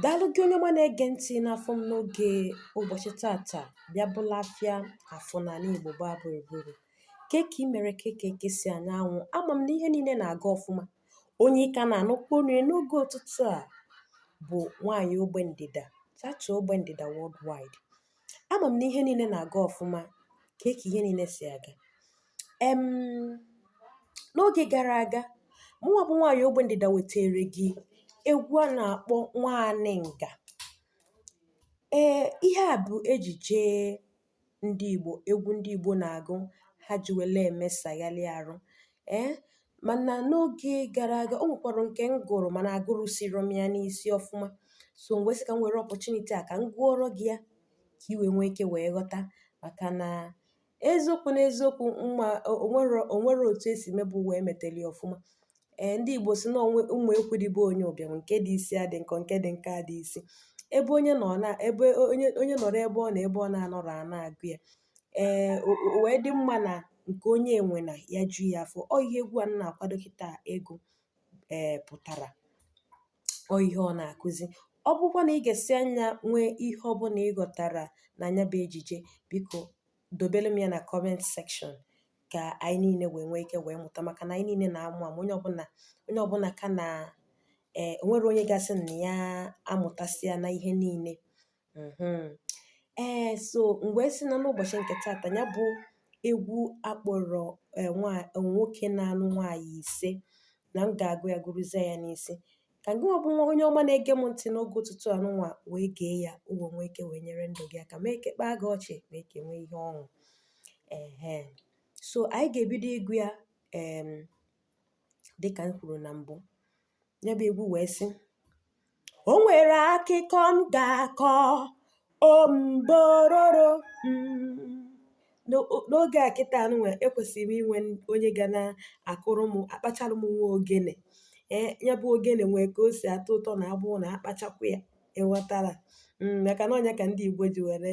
Daalụ gị onye ọma na-ege ntị n'afọ m n'oge ụbọchị tata bịa bụlụ afịa Afọ n'ala Igbo gbaa gburugburu. Ke ka ị mere ke ka eke si anya anwụ ama m na ihe niile na-aga ọfụma. Onye ị ka na-anụkwa onu ya n'oge ụtụtụ a bụ nwaanyị ogbe ndịda chacha ogbe ndịda worldwide. Ama m na ihe niile na-aga ọfụma ke ka ihe niile si aga. um N'oge gara aga, mụnwa bụ nwaanyị ogbe ndịda wetaara gị egwu a na-akpọ Nwaanyị Nga. Ee, ihe a bụ ejije ndị Igbo, egwu ndị Igbo na-agụ ha ji were emesagharị arụ. Ee, mana n'oge gara aga, o nwekwara nke m gụrụ mana agụrusirọ m ya n'isi ọfụma. So m wee sị ka m were opportunity a ka m gụọrọ gị ya ka i wee nwee ike wee ghọta maka na Eziokwu n'eziokwu mm onwere onwerọ otu e si mebe ụwa emeteli ọfụma. Ee, ndị Igbo si na onwe mma ekwu dị be onye ụbịam nke dị isi adị nkọ nke dị nkọ adị isi. Ebe onye nọ na ebe onye onye nọrọ ebe ọ nọ ebe ọ na-anọrọ a na-agụ ya. Ee, o o wee dị mma na nke onye enwena ya ju ya afọ. Ọ ihe egwu a m na-akwado kịta ịgụ ee pụtara. ọ ihe ọ na-akụzi ọ bụkwa na ị gesịa nya nwee ihe ọ bụla ị ghọtara na nya bụ ejije biko dobere m ya na comment section ka anyị niile wee nwee ike wee mụta maka na anyị niile na-amụ amụ onye ọbụla onye ọbụla ka na ee eh, onwerọ onye ga-asị na ya amụtasịana ihe niile Mm-hmm. Ee, eh, so m wee sị na n'ụbọchị nke taata ya bụ egwu a kpọrọ eh, eh, nwoke na-anụ nwaanyị ise na m ga-agụ ya gụruzie ya n'isi ka gịnwa bụ onye ọma na-ege m ntị n'oge ụtụtụ anụnwa wee gee ya o wee nwee ike wee nyere ndụ gị aka mee ka kpaa gị ọchị mee ka i nwee ihe ọṅụ ehe so anyị ga-ebido ịgụ ya dịka m kwuru na mbụ ya bụ egwu wee sị o nwere akụkọ m ga-akọ ombororo mm. n'oge a kịta nwa ekwesịrị m inwe onye ga na-akụrụ m akpachara m nwa ogene ee ya bụ ogene nwee ka o si atọ ụtọ na ọ bụrụ na akpachakwa ya ị ghọtara mm, maka na ọ nya ka ndị Igbo ji were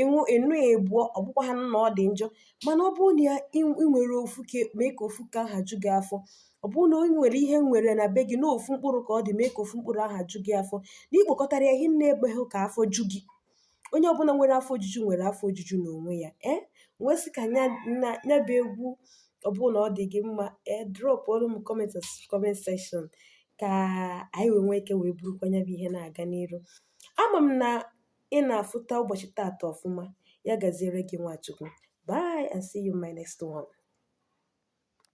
ịnụ ịnụ ya abụọ ọ bụkwaghịnụ na ọ dị njọ mana ọ bụrụ na i nwere ofu nke mee ka ofu nke aha ju gị afọ ọ bụrụ na o nwere ihe i nwere na be gị na ofu mkpụrụ ka ọ dị mee ka ofu mkpụrụ aha ju gị afọ na ikpokọtara ya hinne ekweghị ka afọ ju gị onye ọbụla nwere afọ ojuju nwere afọ ojuju n'onwe ya ee wee sị ka nya na nya bụ egwu ọ bụrụ na ọ dị gị mma ee dropụrụ m comment comment section ka anyị wee nwee ike wee burukwa nya bụ ihe na-aga n'iru ama m na ị na-afụta ụbọchị taata ọfụma ya gaziere gị nwa Chukwu bye and see you in my next one